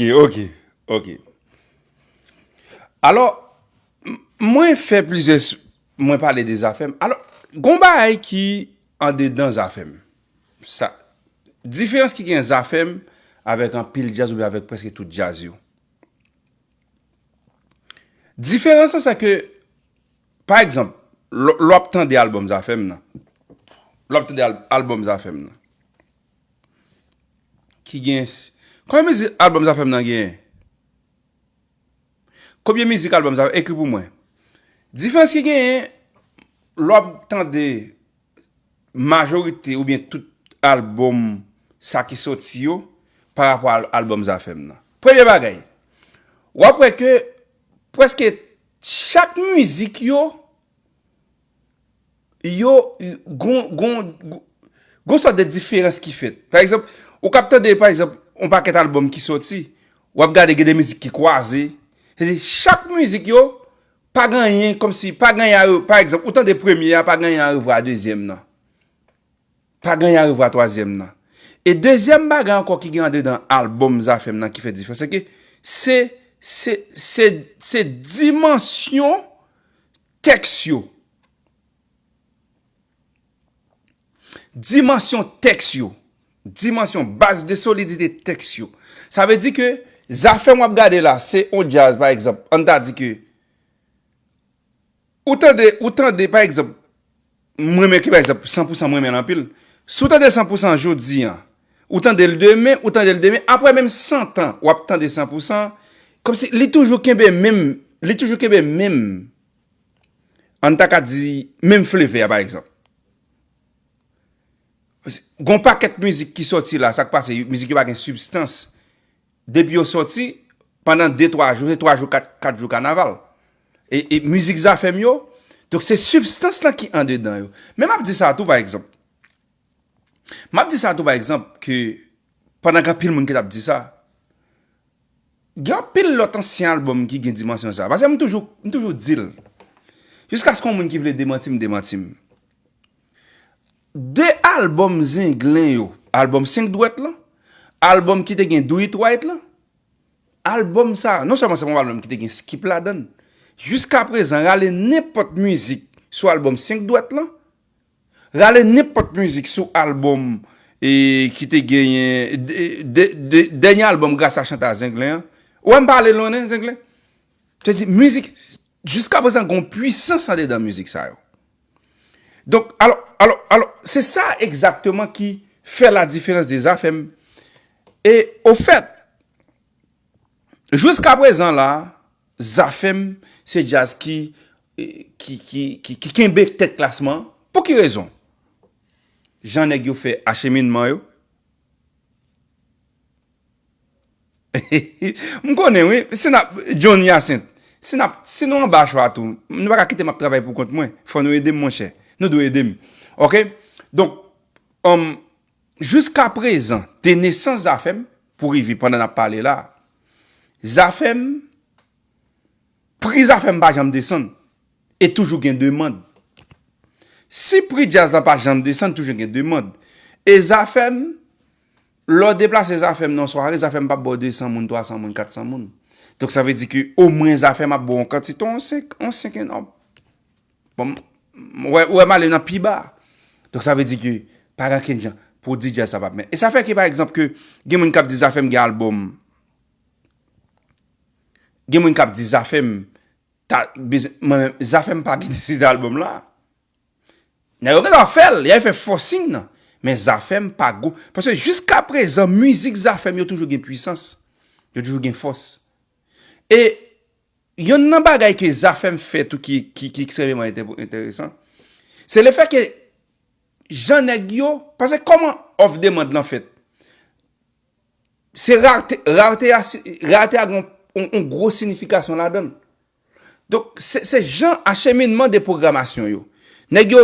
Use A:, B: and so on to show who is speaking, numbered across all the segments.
A: E ok, ok. Alò, mwen fè plizyè, mwen pale de zafèm. Alò, gon bagay ki an dedan zafèm. Sa, diferans ki gen zafèm avèk an pil djaz oubyen avèk preske tout djaz yo. Diferans sa sa ke, pa egzanp, lò ap tande albòm zafèm nan, lò ap tande albòm zafèm nan. ki gen Konbyen mizik album Zafèm nan genyen? Konbyen mizik album Zafèm nan? Ekri pou mwen Diferans ki genyen lè w ap tande majorite oubyen tout album sa ki soti yo pa rapò a album Zafèm nan Premye bagay w ap wè ke prèske chak mizik yo yo gon gon gon sòt de diferans ki fèt. Pa egzanp, ou kab tande pa egzanp yon pakèt albòm ki sòti, w ap gade gen de mizik ki kwaze. Se di chak mizik yo pa gen anyen kòm si pa gen anyen a re, pa egzanp ou tande premye a pa gen anyen a revwa a dezyèm nan. Pa gen anyen a revwa a twazyèm nan. E dezyèm bagay ankò ki gen andedan albòm Zafèm nan ki fè diferans se ke se se se se dimansyon Tèks yo Dimansyon tèks yo Dimansyon, baz de solidite tèks yo Sa vle di ke zafèm w ap gade la se yon djaz pa egzanp an ta di ke ou tande ou tande pa egzanp M renmen ki pa egzanp san pou san m renmen l anpil. Si w tande san pou san jodi an, ou tande l demen, ou tande l demen, aprè menm santan w ap tande san pou san, kòmsi li toujou kenbe menm, li toujou kenbe menm, an n ta ka di menm flevè a pa egzanp. Gon pakèt mizik ki sòti la, sa k pase, mizik yo pa gen sibstans. Depi yo soti, pandan de twa jou, se twa jou kat, kat jou kanaval. E, e mizik zafè m yo, donk se sibstans lan ki andedan yo. Men m ap di sa tou pa egzanp, m ap di sa tou pa egzanp ke pandan gen anpil moun ki t ap di sa, gen anpil lòt ansyen albòm ki gen dimansyon sa. Pase m toujou, m toujou di l, jiskaske yon moun ki vle demanti m demanti m. De albòm Zenglen yo, albòm 5 dwèt lan, albòm ki te gen Do It Right lan, albòm sa, non sèlman se pa yon albòm ki te gen Skip ladan l, jiska prezan rale nenpòt mizik sou albòm 5 dwèt lan, rale nenpòt mizik sou albòm ki te genyen, dènye albòm Grasa Chanta Zenglen an, ou wè m pa ale lwen non Zenglen, te di mizik. Jiska prezan gon pwisans andedan mizik sa yo. Donk, alò, alò, alò, se sa egzakteman ki fè ladiferans de Zafèm. E, ofèt, jiska prezan la, Zafèm se djaz ki, ki, ki, ki, ki kenbe tèt klasman an. Pou ki rezon? Jan nèg yo fè acheminman yo. M konnen wi, si n ap, John Hyacinthe, si n ap, si nou anba chwa tou, nou pa ka kite m ap travay pou kont mwen, fò nou ede m monchè, nou dwe ede m. Ok, donk, jiskaprezan, de nesans Zafèm, pou rive pandan n ap pale la, Zafèm, pri Zafèm pa janm desann, e toujou gen demand. Si pri djaz la pa janm desann, toujou gen demand. E Zafèm, Lè w deplase zafè m nan yon sware, zafè m pap ba w 200 moun, 300 moun, 400 moun. Donk sa vle di ke omwen zafè m ap ba w yon kantite, yon 5, yon 5 enòm. Bon, ou wè, ou wè m ale nan pi ba. Donk sa vle di ke pa gen okenn jan pwodui djaz sa pap mè. E sa fè ke pa egzanp ke gen moun k ap di zafè m gen albòm. Gen moun k ap di zafè m ta, mwen menm, zafè m pa gen disque album la. Nèg yo gentan fèl, yal fè forcing nan, men zafèm pa gou, paske jiska prezan mizik zafèm yo toujou gen pwisans, yo toujou gen fòs. E yonn nan bagay ke zafèm fè tou ki ekstrèmeman enteresan, se le fè ke jan nèg yo, paske kòman òf demand lan fèt, se rarte, rarte a gen yon gwo sinifikasyon ladann. Donk, se jan acheminman de pwogramasyon yo. Nèg yo,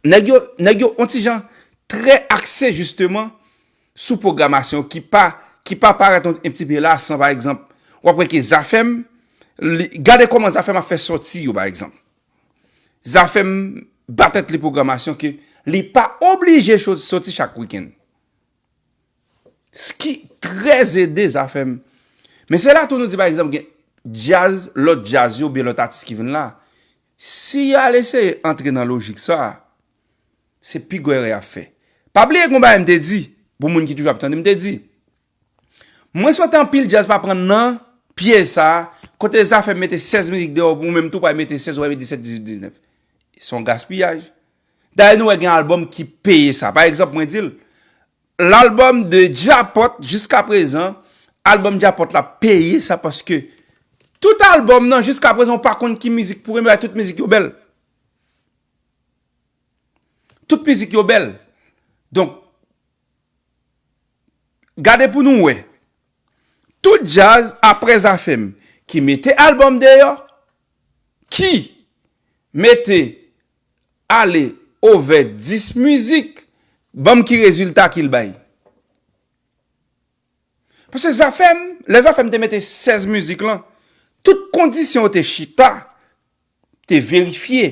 A: nèg yo, nèg yo on ti jan trè akse jisteman sou pwogramasyon ki pa, ki pa parèt on ti pe la san pa egzanp, w ap wè ke Zafèm, li, gade kòman Zafèm ap fè sòti yo pa egzanp. Zafèm ba tèt li pwogramasyon ke li pa oblije sòti chak wikenn. Ski trè ede zafè m. Men se la tou nou di pa egzanp gen djaz, lòt djaz yo oubyen lòt atis ki vin la. Si y al eseye antre nan lojik sa, se pi gwo erè y ap fè. Pa bliye gen yon bagay m te di, pou moun ki toujou ap tande m, m te di, mwen swete anpil djaz pa pran nan pyèj sa, kote zafèm mete 16 mizik deyò, ou menm tou pral mete 16, wè 17, 18, 19. Se yon gaspiyaj. Dayè nou wè gen albòm ki peye sa. Pa egzanp mwen di l, L'album de Djapot jiska prezan album Djapot la peye sa paske tout album nan jiska prezan ou pa konn ki mizik pou renmen bay tout mizik yo bèl. Tout mizik yo bèl. Donk gade pou nou wè tout djaz aprè Zafèm ki mete album deyò ki mete ale ovè 10 mizik banm ki rezilta kil bay paske zafèm lè zafèm te mete 16 mizik lan tout kondisyon yo te chita te verifye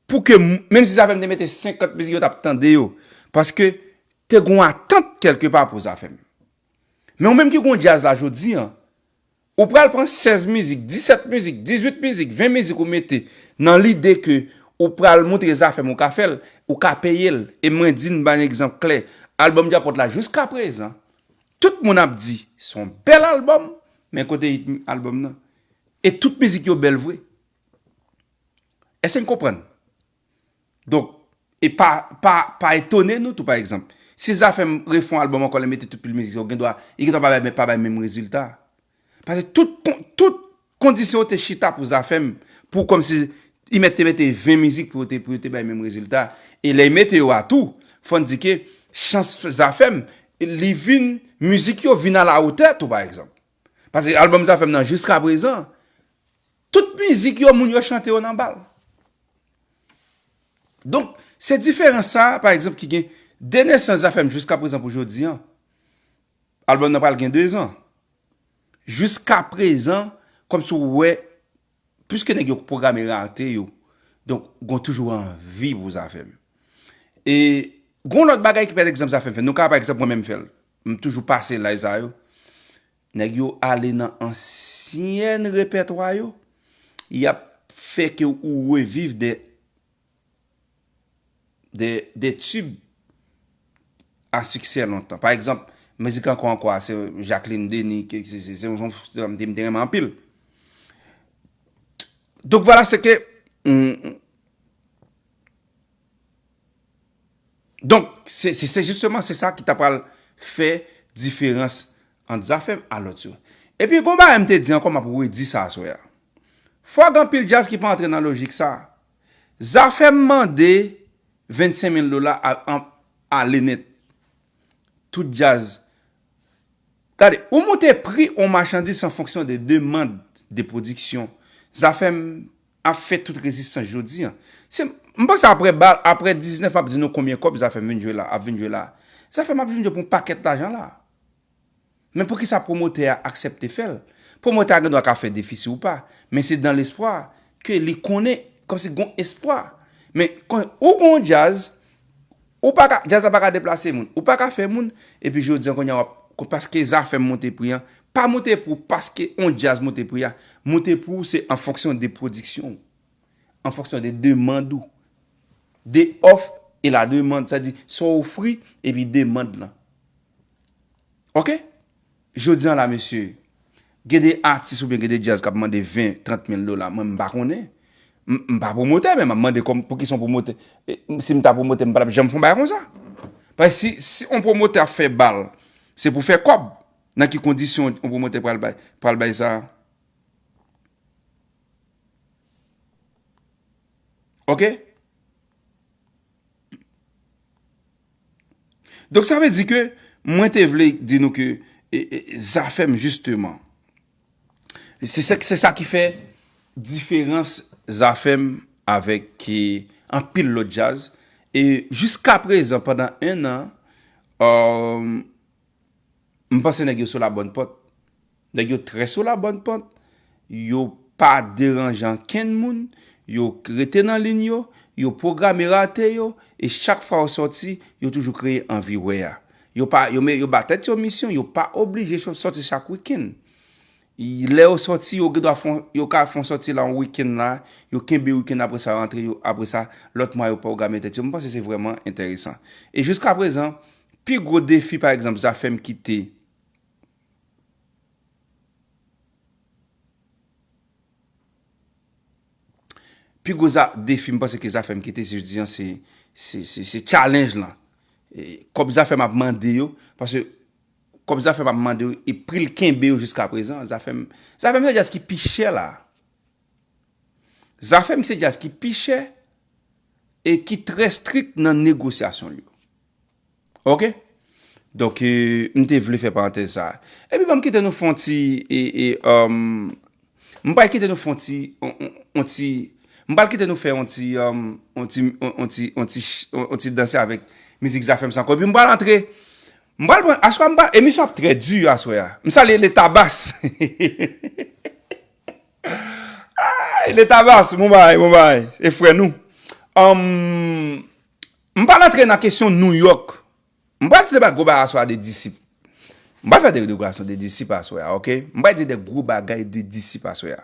A: pou ke menm si zafèm te mete 50 mizik yo tap tande yo paske te gon atant kelke pa pou zafèm men ou menm ki gon djaz la jodi an Ou pral pran 16 mizik, 17 mizik, 18 mizik, 20 mizik ou mete nan lide ke ou pral moutre Zafèm ou ka fè l, ou ka peye l. E mwen di n ban egzanp klè, albòm Djapot la jiska prezan, tout moun ap di s on bèl albòm, men kote hit albòm nan? E tout mizik yo bèl vre. Èske n konprann? Donk, e pa, pa, pa etone nou tou pa egzanp. Si Zafè m refè yon albòm ankò lè m mete tout pil mizik sa yo, gendwa, li gendwa pa bay, pa bay menm rezilta. Pase tout kon, tout kondisyon yo te chita pou Zafè m, pou kòmsi Imet te mete 20 mizik pou yo te, pou yo te bay menm rezilta. E lè Imete yo a tou, fò n di ke chans Zafè m, li vin, mizik yo vin a la otè tou pa egzanp. Paske album Zafem nan jiska prezan tout mizik yo moun yo chante yo nan bal. Donk se diferans sa pa egzanp ki gen de nesans Zafem jiska prezan pou jodi an. Album nan pral gen 2 zan. Jiska prezan kòmsi ou wè Piske nèg yo k pwograme rate yo, donk gon toujou anvi pou zafè m. E gon lòt bagay ki pa egzanp zafè m fè. Nou ka pa egzanp mwen menm m fè l. M toujou pase live sa yo. Nèg yo ale nan ansyen repètwa yo, y ap fè ke ou reviv de De tube a siksè lontan. Pa egzanp, mizik Ankò Ankò a, se Jacqueline Denis, se yon sèm te renmen anpil. Donk vwala se ke, donk se se jisteman se sa ki ta pral fè diferans ant Zafèm a lòt yo. E pi gon bagay m te di ankò m ap redi sa aswè a. Fwa gen anpil djaz ki pa antre nan lojik sa, Zafem mande 25 mil dola an ale net tout djaz gade ou moute pri on machandiz san fonksyon de demand de pwodiksyon zafem ap fe tout rezistans jodi an se m panse apre bal apre 19 map di nou konbyen kob zafem vin jwe la ap vin jwe la zafem ap vin jwe pou paket lajan la. Men poukisa pwomotè a aksèpte fè l? Pwomotè a gen dwa ka fè defi si ou pa, men se dan lespwa ke li konnen kòmsi gon espwa. Men kon ou gon yon djaz, ou pa ka, djaz la pa ka deplase moun, ou pa ka fè moun, epi jodi an kounye a wap, paske zafèm monte pri an, pa monte pri w paske yon djaz monte pri a, monte pri w se an fonksyon de pwodiksyon w, an fonksyon de demand ou, de òf e la demand, sa di sa w ofri epi demand lan. Ok Jodi an la mesye Gen de atis oubyen gen de djaz kap mande 20, 30 mil dola mwen m pa konnen M pa pwomotè men map mande kòman pouki son pwomotè Si m ta pwomotè m patap janm fon bagay konsa Paske si on pwomotè ap fè bal se pou fè kòb Nan ki kondisyon on pwomotè pral bay pral bay sa Ok. Donk sa vle di ke mwen te vle di nou ke zafèm jisteman. Se sa ki fè diferans zafèm avèk anpil lòt jazz. E jiska prezan pandan 1 an, m panse nèg yo sou la bòn pòt. Nèg yo trè sou la bòn pant, yo pa deranje ankenn moun, yo rete nan lin yo, yo pwograme rate yo, e chak fwa yo sòti, yo toujou kreye anvi wè a. Yo pa, yo me, yo ba tèt yo misyon, yo pa oblije cho, sòti chak wikenn. Y, lè yo sòti, yo gendwa fon, yo ka fon sòti la yon wikenn la, yo kenbe wikenn apre sa yo antre, yo, apre sa, lòt mwa yo pwograme tèt yo. M panse se vrèman enteresan. E jiskaprezan, pi gwo defi pa egzanp Zafèm kite, Pi gwo defi m panse ke Zafèm kite jodi an se, se challenge lan. Kòb Zafèm ap mande yo, paske kòb Zafèm ap mande yo e pri l kenbe yo jiska prezan, Zafèm, Zafèm se djaz ki pi chè la. Zafèm se djaz ki pi chè e ki trè strik nan negosyasyon l yo. Ok Donk m te vle fè parantèz sa a. Epi banm kite nou fè yon ti e um m pral kite nou fè yon ti yon ti m pral kite nou fè yon ti um yon ti yon ti yon ti yon ti danse avèk mizik Zafèm san kò epi m pral antre m pral pran aswè a m pa emisyon an ap trè di aswè a m salye Letabas Letabas bon bagay bon bagay se frè nou um. M pral antre nan kesyon Nouyòk. M pral di de bagay gwo bagay aswè a de disip. M pral fè de deklarasyon de disip aswè a, ok? M pral di de gwo bagay de disip aswè a.